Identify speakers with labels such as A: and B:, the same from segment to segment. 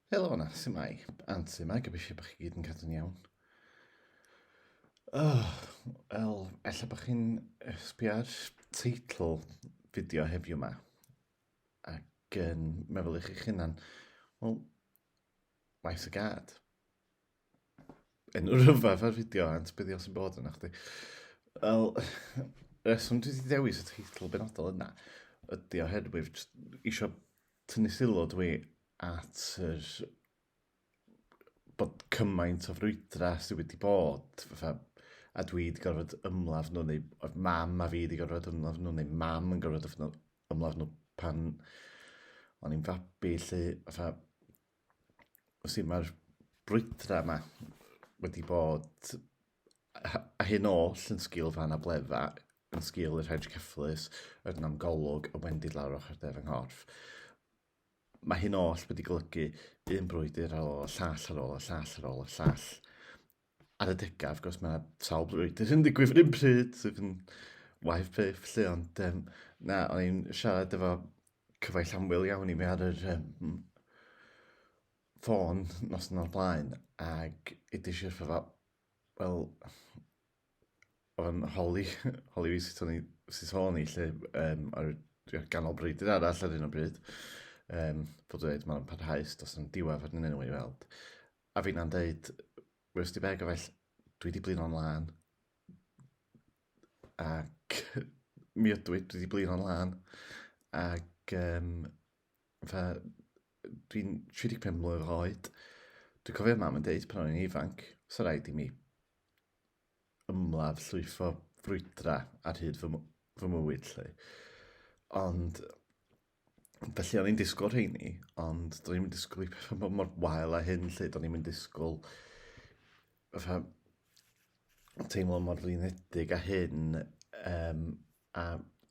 A: Helo yna, sy'n mai? Anti yma, gobeithio bod chi gyd yn cadw'n iawn. Oh, wel, efallai bod chi'n sbio ar teitl fideo heddiw yma. Ac yn meddwl i chi'ch hunan, wel, maes y gad. yn rhyfedd ar fideo ant beth os yn bod yna chdi. Wel, reswm dwi wedi dewis y teitl benodol yna ydy oherwydd eisiau tynnu sylw dwi at yr bod cymaint o frwydra sydd wedi bod fatha a dwi wedi gorfod ymladd nhw neu o'r mam a fi wedi gorfod ymladd nhw neu mam yn gorfod ymladd nhw pan o'n i'n fabi lle fatha Felly mae'r brwydrau yma wedi bod a hyn oll yn sgil fan a bledda, yn sgil yr hedge cyfflus, yr namgolwg, y wendid lawr ochr def yng nghorff. Mae hyn oll wedi golygu un brwydr ar ôl y llall ar ôl y llall ar ôl y llall. Ar y degaf, wrth gwrs, mae sawl brwydr yn digwydd yr un pryd sydd yn waith peth, lle, ond um, na, o'n i'n siarad efo cyfaill amwyl iawn i mi ar yr um, ffôn nos yn o'r blaen ac ydy eisiau ffa wel o'n holi holi fi sut o'n i sut o'n i lle um, ar y ganol breudur arall ar un o bryd um, fod dweud mae'n parhaus dos yn diwedd ar un i weld a fi'n na'n dweud wrth di beg o fell dwi di blin o'n lan ac mi ydw i, dwi wedi blino'n lân, ac um, fe, dwi'n 35 mlynedd oed, dwi'n cofio mam yn deud pan o'n i'n ifanc, so rhaid i mi ymladd llwyfo frwydra ar hyd fy, fy mywyd lle. Ond Felly o'n i'n disgwyl rheini, ond do'n i'n disgwyl i pethau bod mor wael a hyn lle, do'n i'n disgwyl fatha teimlo mor flinedig a hyn, um, a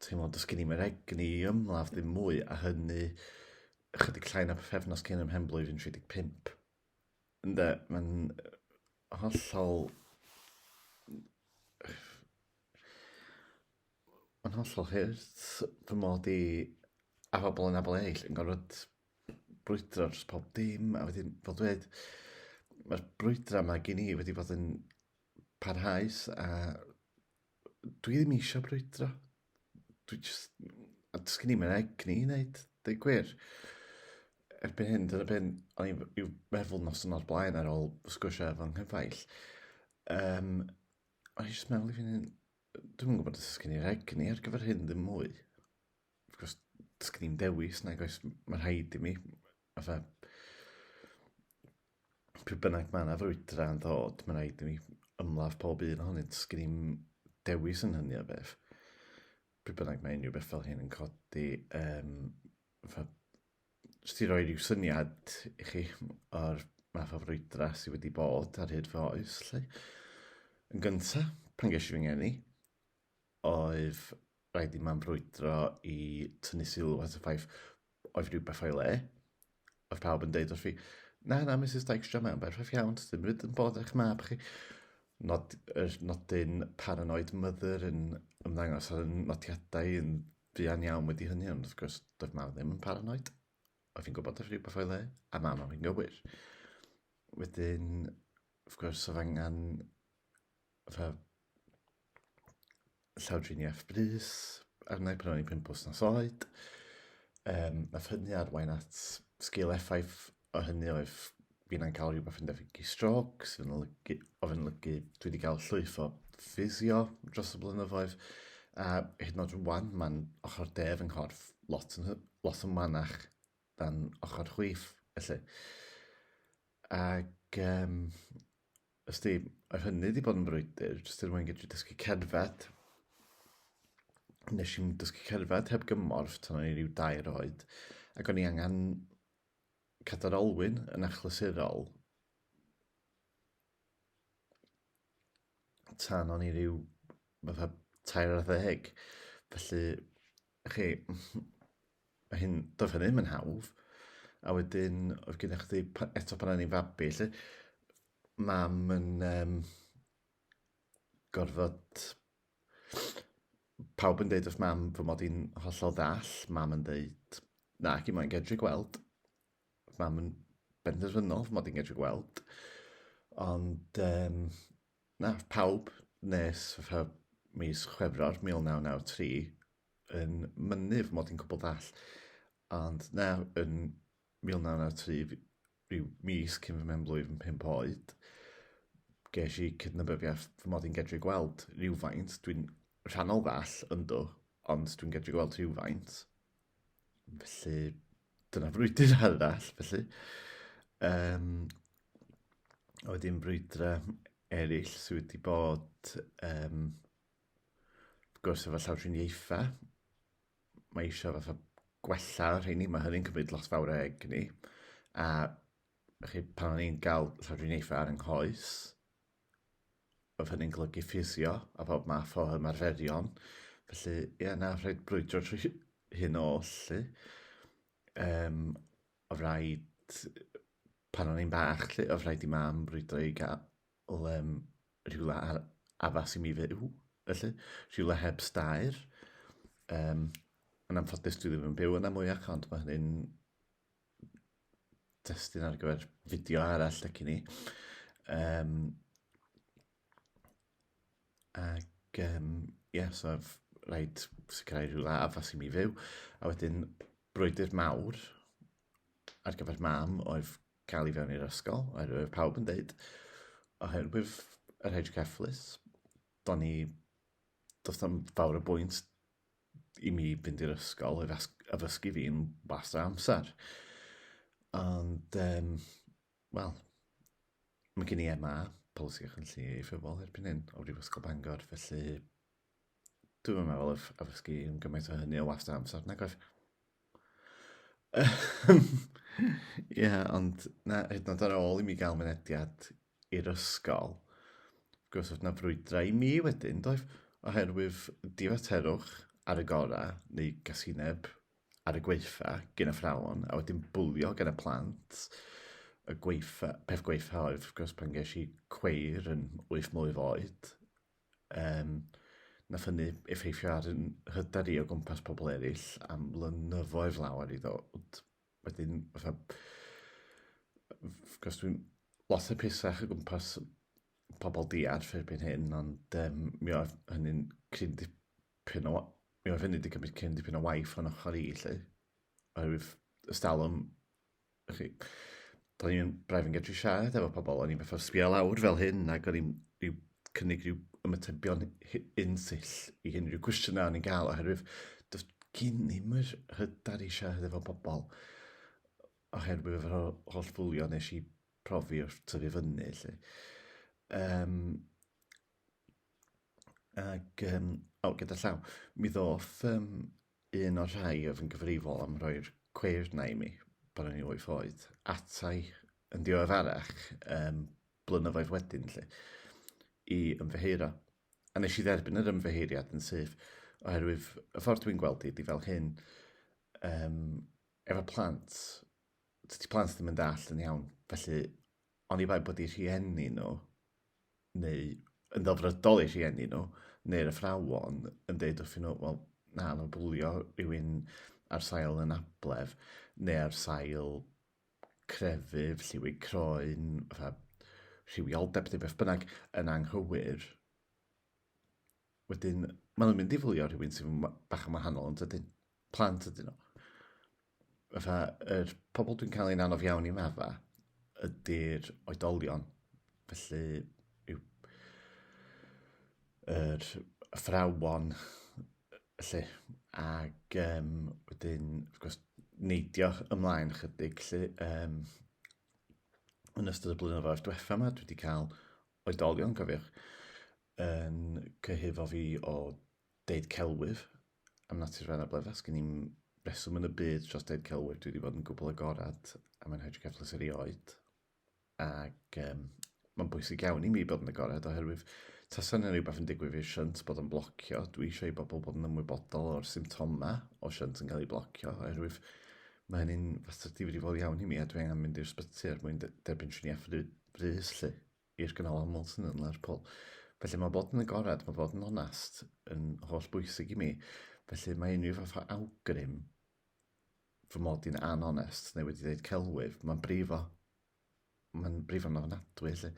A: teimlo dys gen i mewn egni i ymladd ddim mwy, a hynny ychydig llai na pethefnos cyn ym mhen blwyddyn 35. Ynde, mae'n hollol... Mae'n hollol hurt fy mod i a phobl yn abl eill yn gorfod brwydro dros pob dim a wedyn fel dweud mae'r brwydra yma gen i wedi bod yn parhaus a dwi ddim eisiau brwydro. Dwi just... a does gen i ddim egni i wneud, dweud gwir. Erbyn hyn, dyna beth o'n i'n i'w meddwl nos yn o'r blaen ar ôl sgwrsio efo nghyfaill. Um, o'n i jyst meddwl i fynd Dwi'm yn gwybod os oes gen i'r egni ar gyfer hyn ddim mwy. Wrth gwrs, does gen i'n dewis nag oes, mae rhaid i mi, fatha, pryd bynnag mae yna frwydra yn ddod, mae rhaid i mi ymladd pob un ohonynt, does gen i'n dewis yn hynny o beth. Pryd bynnag mae unrhyw beth fel hyn yn codi, um, fatha, Jyst i roi rhyw syniad i chi o'r math o frwydra sydd wedi bod ar hyd fy oes, lle. Yn gyntaf, pan ges i fy ngeni, oedd rhaid i mam frwydro i tynnu sylw at y ffaith oedd rhywbeth o'i le. Oedd pawb yn deud wrth fi, na, na, Mrs Dykstra, mae'n berffaith iawn, dim ryd yn bod eich mab chi. Nod, er, nodyn paranoid mother yn ymddangos ar y nodiadau yn Fuan iawn wedi hynny, ond wrth gwrs, doedd mam ddim yn paranoid. Oedd hi'n gwybod oedd rhywbeth o'i le, a mam oedd hi'n gywir. Wedyn, wrth gwrs, oedd angen fatha llawdriniaeth brys arna i pan o'n i'n pimp wythnos oed. Um, nath hynny arwain at sgil effaith o hynny oedd fi'n a'n cael rhywbeth yn debyg i stroc, sydd yn olygu, oedd yn olygu dwi wedi cael llwyth o ffisio dros y blynyddoedd, a hyd yn oed rwan mae'n ochr def yng nghorff lot yn, lot yn manach dan ochr chwith, felly. Ac um, os di, oedd hynny wedi bod yn brwydr, jyst er mwyn gallu dysgu cerdded, nes i'n dysgu cerdded heb gymorth tan o'n i rhyw dair oed, ac o'n i angen Cadair olwyn yn achlysurol tan o'n i ryw fatha tair ar ddeg. Felly, chi, mae hyn, doedd hynny ddim yn hawdd. A wedyn, oedd gennych chdi, eto pan o'n i'n fabi, lle, mam yn um, gorfod Pawb yn deud wrth mam fy mod i'n hollol ddall, mam yn deud, na, ac i moyn gedru gweld. Mam yn benderfynol fy mod i'n gedru gweld. Ond, um, na, pawb nes fy mis Chwefror 1993 yn mynnu fy mod i'n cwbl ddall. Ond na, yn 1993 Rhyw mis cyn fy mhen-blwydd yn pump oed, ges i cydnabyddiaeth fy mod i'n gedru gweld rhywfaint. Dwi'n rhannol ddall, yndw, ond dwi'n gedru gweld rhywfaint. Felly, dyna frwydr arall, felly. Um, a wedyn brwydrau eraill sydd wedi bod, um, wrth gwrs, efo llawdriniaethau. mae eisiau fatha gwella rheini, mae hynny'n cymryd lot fawr o egni, a chi, pan o'n i'n gael llawdriniaethau ar yng nghoes, oedd hynny'n golygu ffisio a bob math o ymarferion. Felly, ie, na, rhaid brwydro trwy hyn o lly. Um, o rhaid, pan o'n i'n bach, lly, o rhaid i mam brwydro i gael Wel, um, rhywle ar addas i mi fyw, felly. Rhywle heb stair. Um, yn anffodus, dwi ddim yn byw yna mwyach, ond mae hynny'n destun ar gyfer fideo arall ac i ni. Um, ac, um, ie, yeah, so rhaid sicrhau rhywle addas i mi fyw. A wedyn, brwydr mawr ar gyfer mam oedd cael ei fewn i'r ysgol, oherwydd oedd pawb yn dweud, oherwydd yr hedge cefflus, do'n ni, does tam fawr y bwynt i mi fynd i'r ysgol oedd addysgu fi'n bas amser. Ond, um, wel, mae gen i MA, polisi ac yn llu ei ffefol erbyn hyn, o Brifysgol Bangor, felly Dwi'm yn meddwl oedd oedd ysgu yn gymaint o hynny o wast amser, nag oedd? Ie, ond na, hyd yn oed ar ôl i mi gael mynediad i'r ysgol, wrth gwrs oedd na frwydrau i mi wedyn, doedd, oherwydd difaterwch ar y gorau, neu gasineb ar y gweitha gen y ffrawon, a wedyn bwlio gen y plant. Y gweitha, peth gweitha oedd, wrth gwrs, pan ges i cweir yn wyth mlwydd oed, um, nath hynny effeithio ar yn hyder i o gwmpas pobl eraill am flynyddoedd lawer i ddod. Wedyn, fatha, gos dwi'n lot o pisach o gwmpas pobl diarth erbyn hyn, ond um, mi oedd hynny'n cryn dipyn o... Mi oedd hynny wedi cymryd cryn dipyn o waith o'n ochr i, lle. Oherwydd ystalwm chi. Do'n i'n braidd yn gallu siarad efo pobl, o'n i'n fath o sbio lawr fel hyn, ac o'n i'n rhyw cynnig rhyw ymatebion unsill i unrhyw cwestiynau o'n i'n cael, oherwydd does gen i ddim yr hyder i siarad efo pobl, oherwydd yr holl fwlio nes i profi wrth tyfu fyny, lle. Um, ac, um, o, gyda llaw, mi ddoth um, Un o'r rhai oedd yn gyfrifol am roi'r cweir 'na i mi pan o'n i'n wyth oed, atai yn ddiweddarach, um, blynyddoedd wedyn, lle, i ymddeheuro. A nes i dderbyn yr ymddeheuriad yn syth, oherwydd y ffordd dwi'n gweld i, di fel hyn, um, efo plant, dydy plant ddim yn dall yn iawn, felly oni bai bod eu rhieni nhw, neu yn ddelfrydol eu rhieni nhw, neu'r athrawon yn dweud wrthyn nhw, wel, na, mae bwlio rhywun ar sail yn ablef, neu ar sail crefydd, lliwig croen, fatha rhywioldeb neu beth bynnag yn anghywir. Wedyn, maen nhw'n mynd i fwlio rhywun sy'n bach yn wahanol yn dydyn. plant ydyn nhw. Fatha, yr pobl dwi'n cael ein anodd iawn i mafa ydy'r oedolion. Felly, yw, yr athrawon, felly, ac um, wedyn, wrth gwrs, neidio ymlaen chydig, lle, um, yn ystod y blynyddoedd diwetha yma, dwi wedi cael oedolion, cofiwch, yn cyhyddo fi o Deud celwyf am natur fy anabledd, a sgen i'm reswm yn y byd dros deud celwyf, dwi wedi bod yn gwbl agored a mae'n rhaid i gyfles erioed. Ac um, mae'n bwysig iawn i mi bod yn agored oherwydd tasa yna rhywbeth yn digwydd i'r siant bod yn blocio, dwi eisiau i bobl bod yn ymwybodol o'r symptoma o siant yn cael ei blocio oherwydd mae hynny'n fater difrifol iawn i mi a dwi angen mynd i'r sbyty er mwyn derbyn triniaeth frys lle. i'r ganolfan Moulton yn Lerpwl. Felly mae bod yn agored, mae bod yn onest yn holl bwysig i mi. Felly mae unrhyw fath o awgrym fy mod i'n anonest neu wedi dweud celwydd, mae'n brifo. Mae'n brifo yn ofnadwy, felly.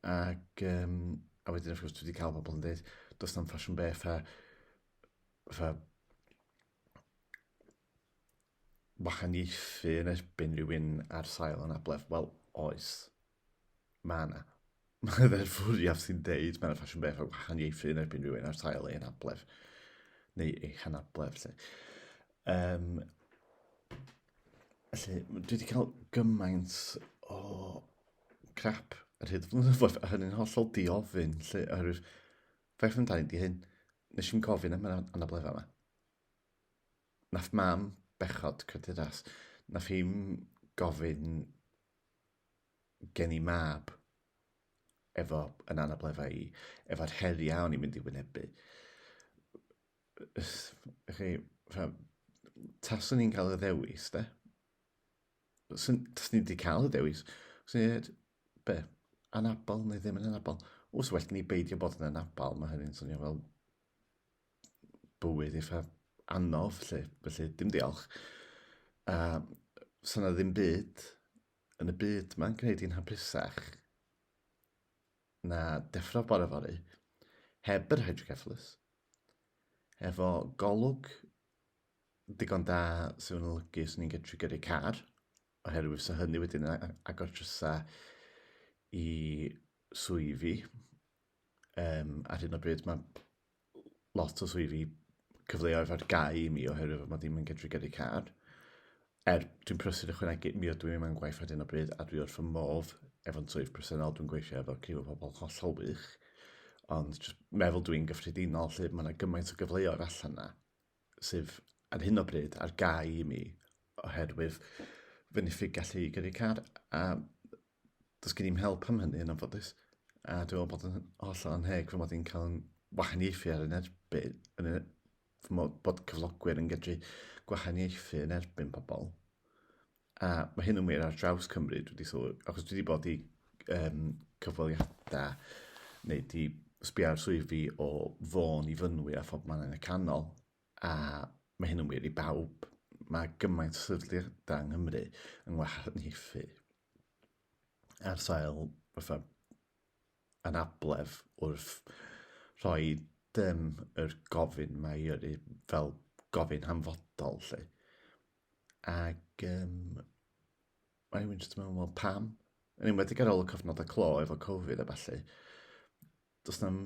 A: Ac, um, a wedyn, wrth gwrs, dwi wedi cael pobl yn dweud, does na'm ffasiwn be, ffa, ffa, wahaniaethu yn erbyn rhywun ar sail anabledd? Wel, oes. Mae yna. Mae dderfwriaeth sy'n deud mae'n ffasiwn beth o wahaniaethu yn erbyn rhywun ar sail ei anabledd neu ei hanabledd. Lle. Um, lle, dwi wedi cael gymaint o crap ar hyd flynyddoedd a hynny'n hollol diofyn lle oherwydd Faint yn daid i hyn? Nes i'n gofyn am yr anableddau yma. Nath mam bechod cyturas. Nath hi'n gofyn gen i mab efo yn anableddau i, efo'r heriau o'n i'n mynd i wynebu. Chi, taswn i'n cael y ddewis, de? Taswn ni wedi cael y dewis. Swn i'n dweud, Be? Anabal neu ddim yn anabal? Os well ni beidio bod yn anabal, mae hynny'n swnio fel bywyd eitha anodd, lle. Felly, dim diolch. A so na ddim byd yn y byd mae'n gwneud i'n hapusach na deffro bore fori heb yr hydrocephalus, efo golwg digon da sy'n olygu os ni'n gallu gyrru car, oherwydd fysa hynny wedyn yn agor drysau i swyddi. Um, ar hyn o bryd mae lot o swyddi cyfleoedd ar gau i mi oherwydd fod mae ddim yn gydru gyrru car. Er, dwi'n prysur ychwanegu, mi oedden ni mewn gwaith ar hyn o bryd a dwi wrth fy modd efo'n swydd presennol, dwi'n gweithio efo criw o pobl hollol wych. Ond meddwl dwi'n gyffredinol lle mae yna gymaint o gyfleoedd allan yna. sydd ar hyn o bryd ar gau i mi oherwydd fy niffig gallu i gyrru car a does gen i'n help am hynny yn anffodus. A dwi'n meddwl bod yn holl o'n heg fy mod i'n cael yn wahaniaethu ar yn erbyn, yn y, fy mod bod cyflogwyr yn gydru gwahaniaethu yn erbyn pobl. A mae hyn yn wir ar draws Cymru, dwi wedi sylwi, achos dwi wedi bod i um, cyfweliadau neu di sbio ar swyddi o fôn i fynwy a phob man yn y canol, a mae hyn yn wir i bawb. Mae gymaint o sefydliadau yng Nghymru yn ngwahaniaethu ar sail fatha anabledd wrth rhoi dim yr gofyn mae i yrru fel gofyn hanfodol lle. Ac um, mae rhywun jyst yn meddwl, wel pam? Yn enwedig ar ôl y cofnod y clo efo Covid a falle. Does na'm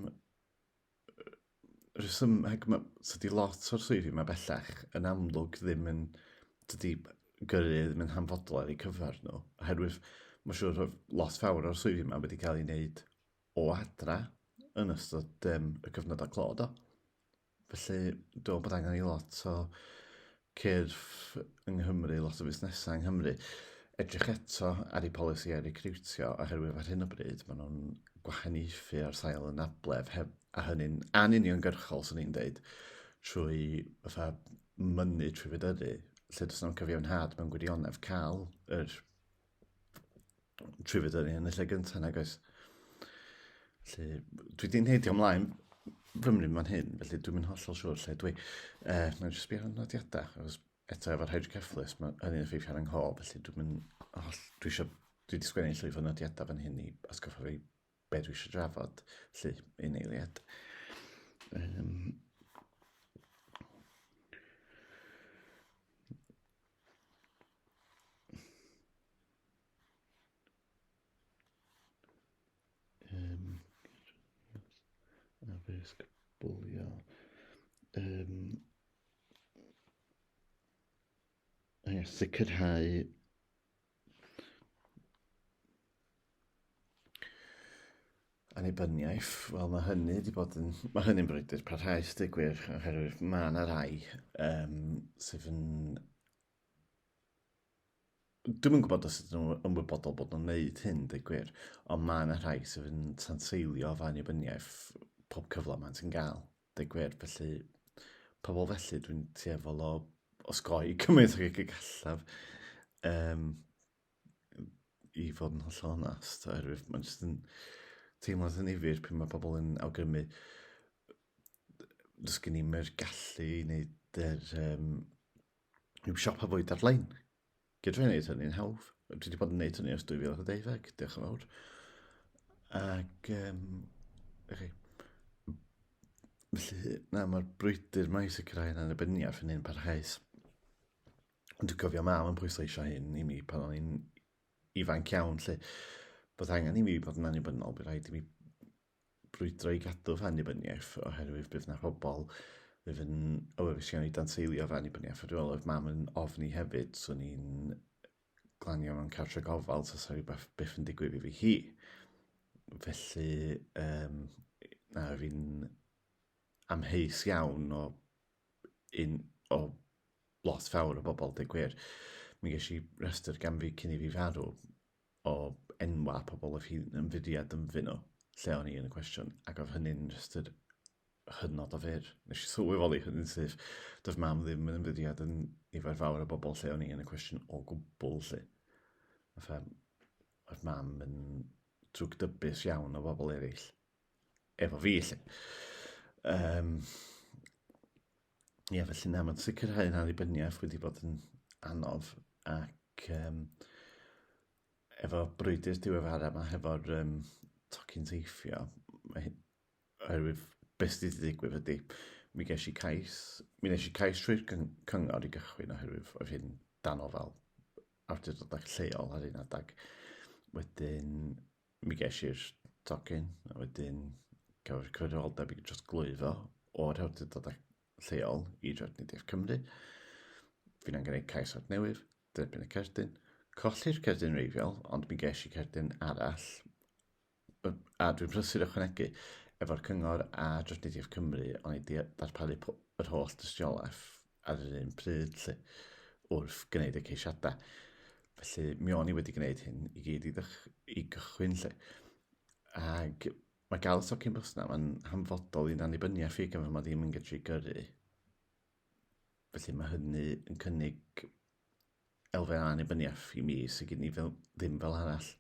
A: rheswm, hag mae, sydd lot o'r swyddi mae bellach yn amlwg ddim yn, dydy gyrru ddim yn hanfodol ar eu cyfer nhw. Oherwydd mae'n siŵr oedd lot fawr o'r swyddi yma wedi cael ei wneud o adra yn ystod um, y cyfnod a clod o. Felly, dwi'n bod angen i lot o cyrff yng Nghymru, lot o fusnesau yng Nghymru, edrych eto ar eu polisïau recriwtio, oherwydd ar hyn o bryd maen nhw'n gwahaniaethu ar sail anabledd, heb, a hynny'n anuniongyrchol, swn i'n deud, trwy fatha mynnu trwy fedyddu, lle does yna'n cyfiawnhad mewn gwirionedd cael yr trwyfyd o'n i yn y lle gyntaf nag oes. Felly, dwi di'n heidio ymlaen fymryd ma'n hyn, felly dwi'n mynd hollol siwr lle dwi. Uh, mae'n jyst byd o'n nodiadau, achos eto efo'r hydrocephalus, mae hynny'n effeithio ar yng nghof, felly dwi'n mynd holl... Dwi eisiau... Dwi wedi sgwennu llwyth o nodiadau fan hyn i atgoffa fi be dwi eisiau drafod, lle yn eiliad. Um, addysg bwlio. Um, a sicrhau annibyniaeth, wel mae hynny wedi bod yn... Mae hynny'n brwydr parhaus, dweud gwir, oherwydd mae yna rai um, sydd yn... Dwi'n yn gwybod os ydyn nhw yn wybodol bod nhw'n gwneud hyn, dweud gwir, ond mae yna rhai sydd yn tanseilio fy annibyniaeth pob cyfle maen sy'n gael. Deg gwir, felly, pobl felly, dwi'n tueddol o osgoi cymaint ag y gallaf. Um, I fod yn hollol onast, oherwydd mae'n jyst yn teimlo'n ddynifir pan mae pobl yn awgrymu does gen i'n yr gallu i wneud yr um, rhyw siop a fwyd ar-lein. Gydw i'n neud hynny'n hawdd. Dwi wedi bod yn neud hynny ers 2012, diolch yn fawr. Ac, um, chi, felly, na, mae'r brwydr mae i sicrhau yn annibyniaeth yn un parhaus. Ond dwi'n cofio mam yn pwysleisio hyn i mi pan o'n i'n ifanc iawn, lle bod angen i mi bod yn annibynnol, bydd rhaid i mi brwydro i gadw fy annibyniaeth oherwydd bydd 'na pobl fydd yn awyddus iawn i danseilio fy annibyniaeth. A dwi'n meddwl oedd mam yn ofni hefyd, so ni'n glanio mewn cartre gofal tasa rhywbeth byth yn digwydd i fi hi. Felly um, na fi'n amheus iawn o un o lot fawr o bobl, deg gwir. Mi ges i rhestr gan fi cyn i fi farw, o enwau pobl oedd hi'n ymfudiad ynddyn nhw, lle o'n i yn y cwestiwn, ac oedd hynny'n just yr hynod o fyr. Nes i sylweddoli hynny'n syth. Doedd mam ddim yn ymfudiad yn nifer fawr o bobl lle o'n i yn y cwestiwn o gwbl lle. Fatha, oedd mam yn drwg dybus iawn o bobl eraill. Efo fi lle. Um, Ie, yeah, felly na, mae'n sicrhau yn annibyniaeth wedi bod yn anodd ac um, efo brwydr diweddara yma, hefo'r um, tocyn teithio, mae, oherwydd beth sydd wedi digwydd ydy, mi ges i cais, mi nes i cais trwy'r cyngor i gychwyn oherwydd oedd hyn dan ofal awdurdodau lleol ar un adeg. Wedyn, Mi ges i'r tocyn, a wedyn cafodd y cyfrifoldeb i dros glwyfo o'r hawdurdodau lleol i Drefnidiaeth Cymru. Fi'n angen gwneud cais at newydd, derbyn y cerdyn, colli'r cerdyn reiddiol, ond mi ges i cerdyn arall, a dwi'n prysur ychwanegu, efo'r cyngor a Drefnidiaeth Cymru, ond i darparu yr holl dystiolaeth ar yr un pryd lle, wrth gwneud y ceisiadau. Felly, mi o'n i wedi gwneud hyn i gyd i, ddych, i gychwyn lle. Ac mae gael y socyn bws na, mae'n hanfodol i'n annibyniaeth i gan fod mae ddim yn gallu gyrru. Felly mae hynny yn cynnig elfen annibyniaeth i mi sy'n gen i fel, ddim fel arall.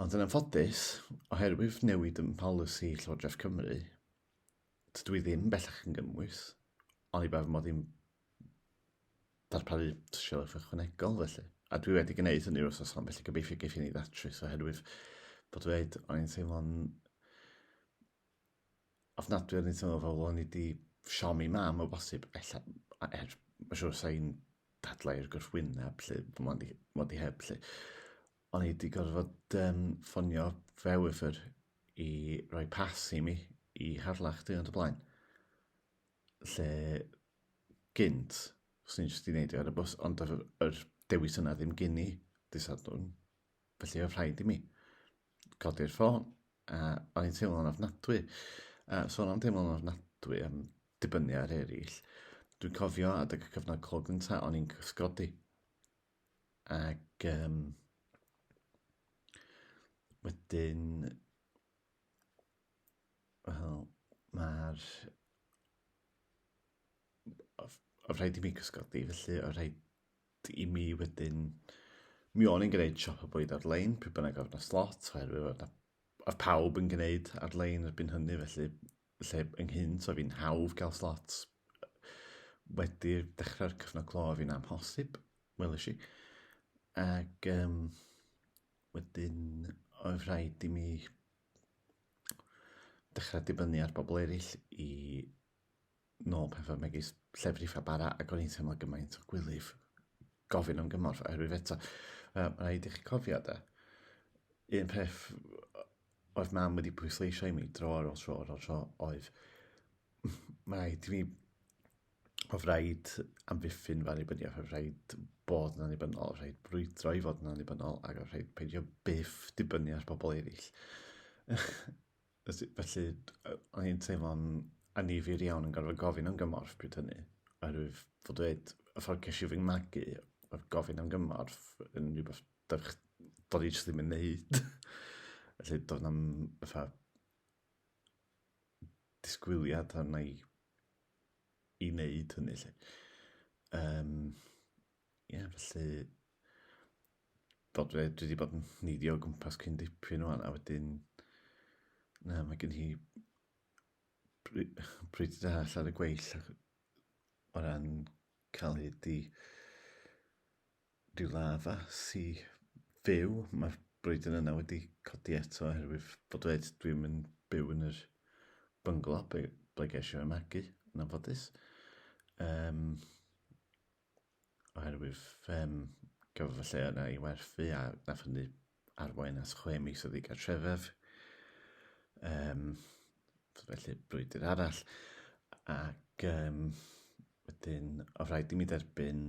A: Ond yn anffodus, oherwydd newid yn polisi Llywodraeth Cymru, Dydw i ddim bellach yn gymwys, ond i ba fy mod i'n darparu tysiolaeth ychwanegol felly. A dwi wedi gwneud hynny wrth osom, felly gobeithio geif i ni ddatrys oherwydd bod dweud o'n i'n teimlo'n ofnadwy o'n i'n teimlo fel o'n i wedi siomi mam o bosib, ella, er, mae'n siŵr sa'n dadlau i'r gwrthwyneb, lle, bod wedi heb, lle. O'n i 'di gorfod um, ffonio Vewiford i roi pas i mi i Harlech diwrnod y blaen. Lle gynt, os ni'n jyst i wneud i ar y bus, ond yr, yr dewis yna ddim gyn i disadwn. Felly oedd rhaid i mi codi'r ffôn, a o'n i'n teimlo'n ofnadwy. A sôn am teimlo'n ofnadwy am dibynnu ar eraill, dwi'n cofio adeg y cyfnod clo gyntaf, o'n i'n cysgodi. Ac um, wedyn, wel, mae'r... Oedd rhaid i mi gysgodi, felly oedd rhaid i mi wedyn... Mi o'n i'n gwneud siop o bwyd ar-lein, pryd bynnag oedd yna slot, oherwydd oedd, oedd pawb yn gwneud ar-lein erbyn hynny, felly lle ynghynt oedd hi'n hawdd cael slot wedi dechrau'r cyfnod clo oedd hi'n amhosib, welish i. Ac um, wedyn oedd rhaid i mi dechrau dibynnu ar bobl eraill i nôl pethau megis llefrif a bara ac o'n i'n teimlo gymaint o gwylyf gofyn am gymorth oherwydd eto, um, rhaid i chi cofio da, un peth oedd mam wedi pwysleisio i mi dro ar ôl tro ar ôl tro oedd mae rhaid i mi mae rhaid amddiffyn fy annibyniaeth, mae rhaid bod yn annibynnol, mae rhaid brwydro i fod yn annibynnol ac mae rhaid peidio byth dibynnu ar bobl eraill. Felly, o'n i'n teimlo'n anifir iawn yn gorfod gofyn am gymorth pryd hynny. Oherwydd fod dweud, y ffordd ces i fy magu, oedd gofyn am gymorth yn rhywbeth Doedd ni jyst ddim yn neud. Felly doedd na'm fatha disgwyliad arna i i wneud hynny 'lly. Yym ie felly bod dwi dwi 'di bod yn neidio o gwmpas cyn dipyn ŵan a wedyn na mae gen i bry- bryd da allan y gweill o ran cael hyd i Diwlaf sy fyw, mae'r brwydr yna wedi codi eto oherwydd fod dweud dwi'm yn byw yn yr bynglo ble, ble geisio ei magu, yn anffodus. Um, oherwydd um, gafodd y lle yna i werthu a nath hynny arwain at chwe mis o ddigartrefedd, um, felly brwydr arall, ac um, wedyn o rhaid i mi dderbyn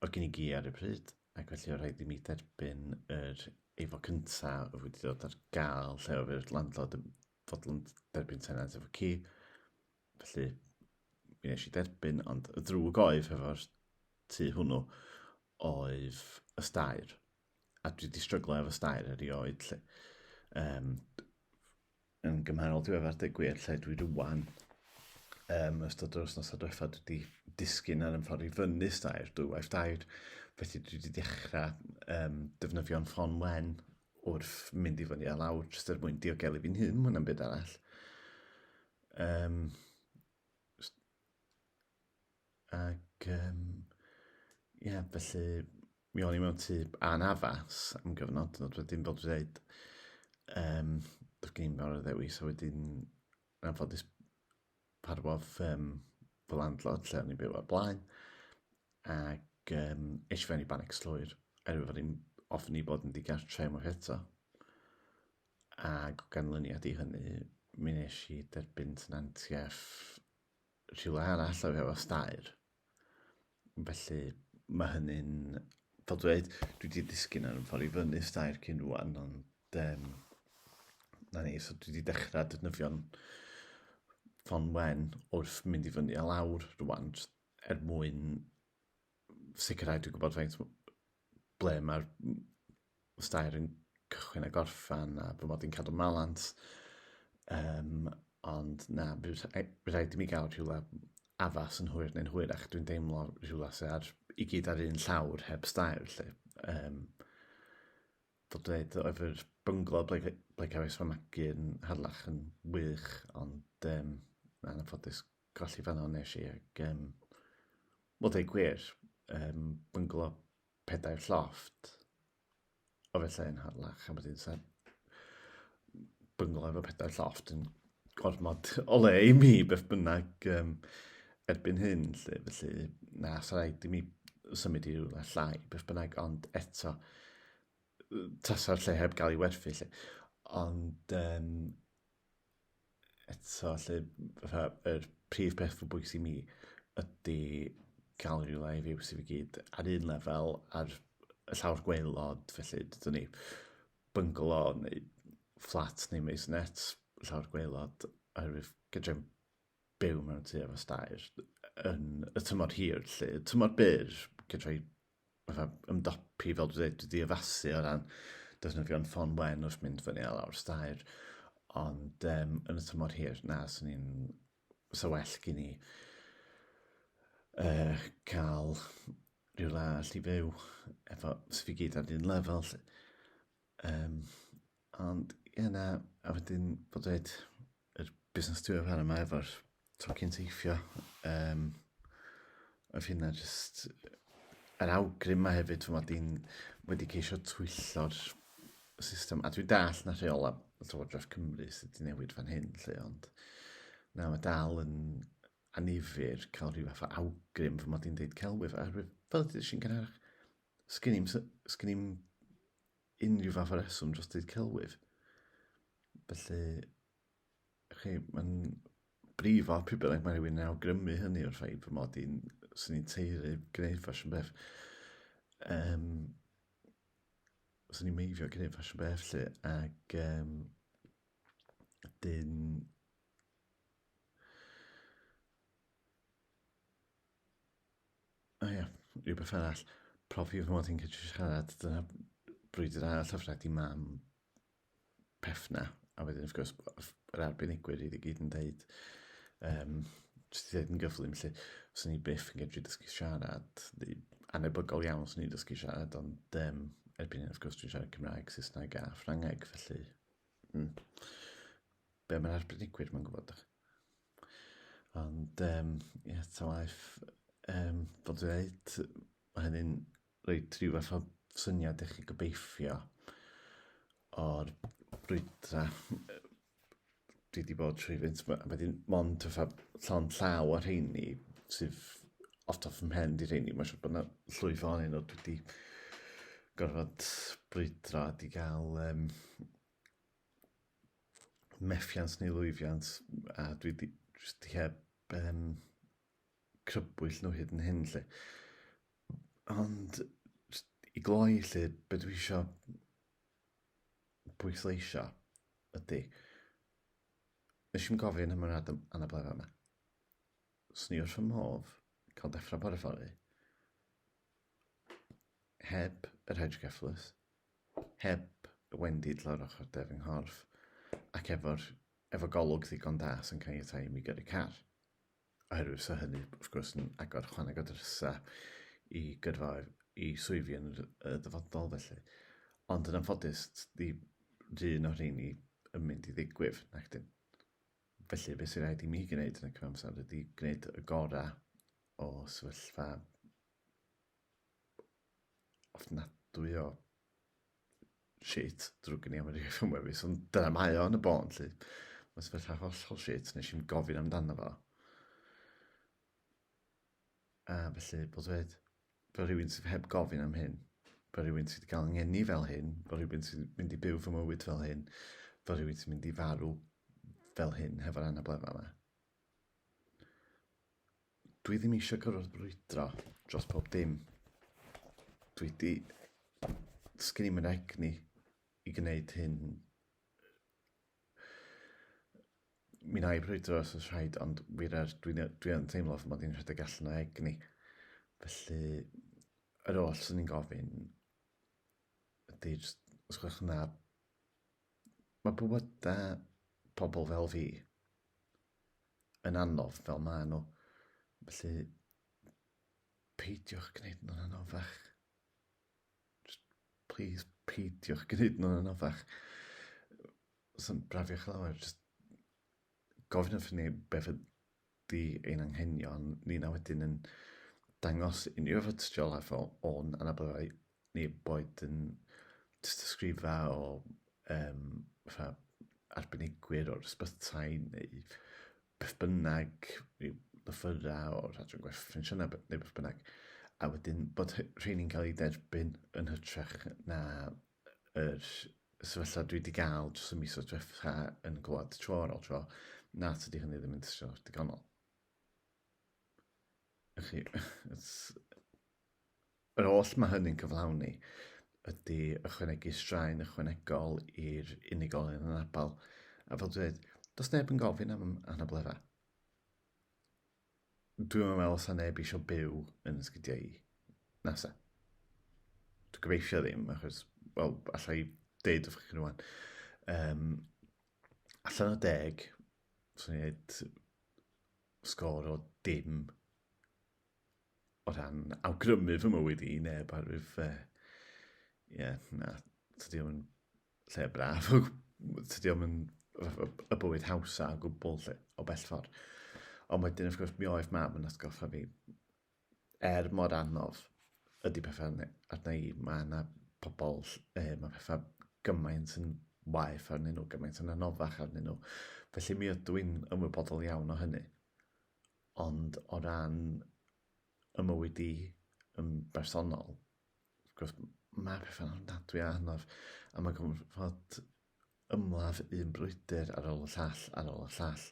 A: o gyn i gi ar y pryd, ac felly o rhaid i mi dderbyn yr efo cynta o wedi dod ar gael lle o fyr landlord yn fodlon derbyn tenant efo ci, felly mi nes i derbyn, ond y drwg oedd hefo'r tu hwnnw oedd y stair. a dwi wedi stryglo efo stair erioed, lle, um, yn gymharol diweddar deg gwir, lle dwi rwan, um, ystod o'r wythnos adweitha, dwi wedi disgyn ar ymffordd i fyny stair, dwy waith dair, felly dwi wedi dechrau um, defnyddio'n ffon wen wrth mynd i fyny a lawr, jyst er mwyn diogelu fi'n hun, mwyn am byd arall. Um, ac, um, ie, yeah, felly, Mi o'n i mewn tŷ anaddas am gyfnod, ond wedyn fel dwi'n dweud, um, doedd gen i'n fawr o ddewis, a wedyn na ffodus parwodd um, fy landlord lle o'n i'n byw o'r blaen, ac um, eisiau fewn i banic slwyr, er fod i'n ofni bod yn digartre unwaith eto. Ac ganlyniad i hynny, mi nes i derbyn tenantiaeth rhywle arall o efo stair. Felly, mae hynny'n... Fel dweud, dwi wedi disgyn ar ffordd i fyny stair cyn rwan, ond um, na ni, so dwi wedi dechrau defnyddio'n ffon wen wrth mynd i fyny a lawr rwan, er mwyn sicrhau dwi'n gwybod faint ble mae'r stair yn cychwyn a gorffan a fy mod i'n cadw malant. Um, ond na, bydd rhaid i mi gael rhywle afas yn hwyr neu'n hwyr ac dwi'n deimlo rhywle sy'n ar, i gyd ar un llawr heb stair lle. Um, dod dweud oedd yr bynglo ble, ble cafes fy magu yn harlach yn wych ond um, na, yn ffodus Colli fan hon nes i ac um, wel dweud gwir, um, bynglo pedair lloft o felly yn harlach a wedyn sa bynglo efo pedair lloft yn gormod o le i mi beth bynnag um, erbyn hyn lle felly na sa rhaid i mi symud i rhywle llai beth bynnag ond eto tasa'r lle heb gael ei werthu lle ond um, eto 'lly fatha yr prif peth fo bwysig i mi ydi ca'l ryw lai fyw sydd i gyd ar un lefel ar y llawr gwaelod felly dydwn ni byngalo neu fflat neu maisonette llawr gwaelod oherwydd fedrai'm byw mewn tŷ efo staer yn y tymor hir 'lly. Tymor byr fedrai fatha ymdopi, fel dwi'n dweud, wedi addasu o ran defnyddio'n ffôn wen wrth mynd fyny a lawr stair, ond um, yn y tymor hir, na, swn i'n... Sa well gen i uh, cael rhyw le all i fyw, efo, sy'n fi gyd ar un lefel, lle. Um, Ond ie na, a wedyn bod dweud yr busnes diweddar yma efo'r tocyn teithio, um, oedd hynna jyst yr awgrym yma hefyd, ti'n fawr di'n wedi ceisio twyllo'r system, a dwi'n dall na rheola Llywodraeth Cymru sydd wedi newid fan hyn, lle, ond na, mae dal yn anifyr cael rhyw fath o awgrym fy mod i'n deud celwydd, a fel ydych chi'n gynharach, sgyn i'n unrhyw fath o reswm dros dyd celwydd. Felly, chi, mae'n brifo pryd bynnag mae rhywun yn awgrymu hynny o'r ffaith fy mod i'n sy'n ni'n teiri gwneud ffasiwn beth. Um, sy'n ni'n meifio gwneud ffasiwn beth lle ac um, dyn O ia, rhywbeth arall. Profi fy mod i'n gallu siarad, dyna brwydr arall o fred i mam peth 'na. A wedyn wrth gwrs b- f- yr arbenigwyr i gyd yn deud yym jyst i ddeud yn gyflym 'lly swn i byth yn gallu dysgu siarad neu anhebygol iawn swn i'n dysgu siarad ond yym erbyn hyn wrth gwrs dwi'n siarad Cymraeg, Saesneg a Ffrangeg felly mm be' ma'r arbenigwyr 'ma'n gwbod? Ond yym ie ta waeth yym fel dwi ddeud ma' hynny'n reit rhyw fath o syniad i chi gobeithio o'r brwydra yy dwi 'di bod trwy fynt ma' a wedyn mond fatha llond llaw o rheini sydd off top fy mhen 'di rheini ma' siŵr bo' 'na llwyth ohonyn nw dwi 'di gorfod brwydro a 'di ga'l yym methiant neu lwyfiant, a dwi wedi jyst di heb um, crybwyll nhw hyd yn hyn, lle. Ond, i gloi, lle, beth dwi eisiau bwysleisio ydy, nes i'n gofyn am yr anablefa yma. Swn ni wrth fy modd cael dechrau bore fory heb yr hedge geflus, Heb wendid lawr ochr de fy nghorff, ac efo'r, efo golwg ddigon da sy'n caniatáu i mi gyrru car. Oherwydd fysa hynny, wrth gwrs, yn agor chwaneg o drysau i gyrfaoedd i swyddi yn y dyfodol felly. Ond yn anffodus, di run o'r rheini yn mynd i ddigwydd, nac dyn. Felly, beth sy'n rhaid i mi gwneud yn y cyfamser ydy gwneud y gorau o sefyllfa ofnadwy o shit, drwg gen i am yr iaith wefus, ond dyna mae o yn y bôn, lly. Mae'n sefyllfa hollol shit, nes i'n gofyn amdano fo. A felly, bod dweud, bod rhywun sydd heb gofyn am hyn, bod rhywun sydd wedi cael ngeni fel hyn, bod rhywun sydd wedi mynd i byw fy mywyd fel hyn, bod rhywun sydd wedi mynd i farw fel hyn, hefo'r anablefa yma. Dwi ddim eisiau gorfod brwydro dros pob dim. Dwi wedi... Sgyn i'm yn egni i gwneud hyn. Mi na i brwydro os oes rhaid, ond wir er, dwi'n dwi yn teimlo fy mod i'n rhedeg allan o egni. Felly, yr oll sy'n ni'n gofyn ydy, os gwelwch yn dda, Mae bywydau pobl fel fi yn anodd fel maen nhw. Felly, peidiwch gwneud nhw'n anoddach. Just, please, peidiwch gwneud nhw'n anoddach. Os yn brafiwch lawer, just gofyn wrthyn ni beth di ein anghenion ni na wedyn yn dangos unrhyw efo tystiolaeth o, o'n anabledd ni boed yn tystysgrifa o um, fatha arbenigwyr o'r ysbytai neu beth bynnag, rhyw lythyrau o'r adran gwerth ffensiynau neu beth bynnag, a wedyn bod rheini'n cael ei derbyn yn hytrach na yr sefyllfa dwi wedi gael dros y misoedd diwetha yn gwlad tro ar ôl tro, na, tydi hynny ddim yn tystio digonol. Chi, yr oll mae hynny'n cyflawni ydy ychwanegu straen ychwanegol i'r unigolyn yn abal. A fel dweud, does neb yn gofyn am anabledda. Dwi'm yn meddwl sa neb eisiau byw yn sgidiau i. Nasa. Dwi'n gobeithio ddim, achos, wel, allai deud wrth chi rwan. Um, allan o deg, swn i'n dweud sgôr o dim o ran awgrymu fy mywyd i neb arwydd, uh, yeah, na, tydi o'n lle braf, tydi o'm yn y bywyd hawsa o gwbl lle, o bell ffordd. Ond wedyn, wrth gwrs, mi oedd mam yn atgoffa fi, er mor anodd ydy pethau arna i, mae yna pobl, e, mae pethau gymaint yn waeth arnyn nhw, gymaint yn anoddach arnyn nhw. Felly mi ydw i'n ymwybodol iawn o hynny. Ond o ran ymywyd i yn bersonol, Wrth gwrs, mae pethau'n ofnadwy a anodd, a mae gorfod ymladd un brwydr ar ôl y llall, ar ôl y llall,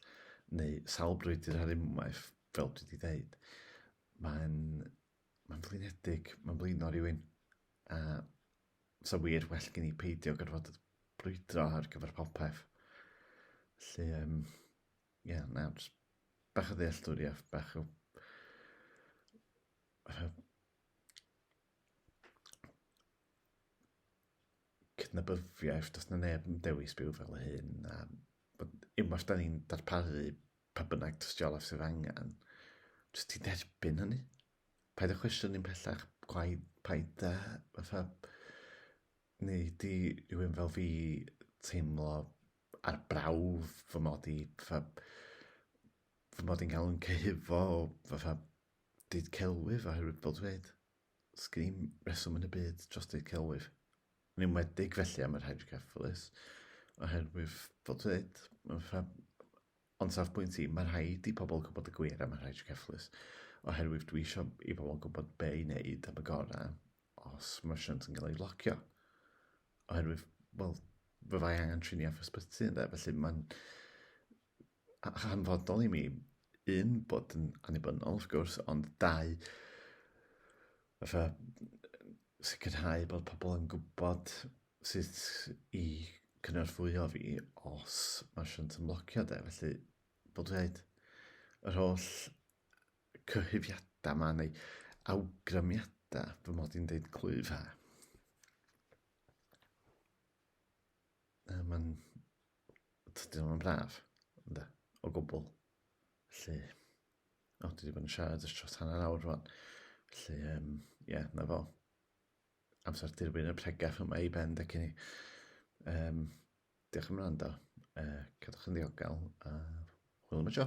A: neu sawl brwydr ar unwaith, fel dwi wedi dweud. Mae'n mae'n flinedig, mae'n blino rhywun, a sa wir well gen i peidio gorfod brwydro ar gyfer popeth. Felly, um, ie, yeah, na, bach o ddealltwriaeth, bach o cydnabyddiaeth, does na neb yn dewis byw fel hyn, a unwaith da ni'n darparu pa bynnag dystiolaeth sydd angen, jyst ti'n derbyn hynny. Paid â cwestiwn ni'n pellach, gwaith, paid â, fatha, neu di rhywun fel fi teimlo ar brawf fy mod i, fatha, fy mod i'n cael yn cyhufo o, fatha, Deud celwyf a hwybod dweud. Sgim reswm yn y byd dros deud celwyf. Yn enwedig felly am yr hydrocephalus, oherwydd bod dweud, ond safbwynt i, mae rhaid i pobl gwybod y gwir am yr hydrocephalus, oherwydd dwi eisiau i pobl gwybod be i wneud am y gorau os mae'r shunt yn cael ei locio. Oherwydd, wel, fe fai angen trini off ysbyty, ynde? Felly mae'n hanfodol i mi, un, bod yn annibynnol, wrth gwrs, ond dau, fatha, sicrhau bod pobl yn gwybod sut i cynorthwyo fi os mae siwnt yn blocio de, felly bod wedi dweud yr holl cyhyfiadau yma neu awgrymiadau fy mod i'n deud clwyf ha. Mae'n Dydyn nhw'n braf, ynddo, o gwbl. Felly, o, dwi wedi bod yn siarad ys tros hanner awr rwan. Felly, ie, um, yeah, na fo. Amser dirwyn y pregeth yma i ben, da cyn i. Um, diolch am rando. Uh, cadwch yn ddiogel a hwyl am y tro.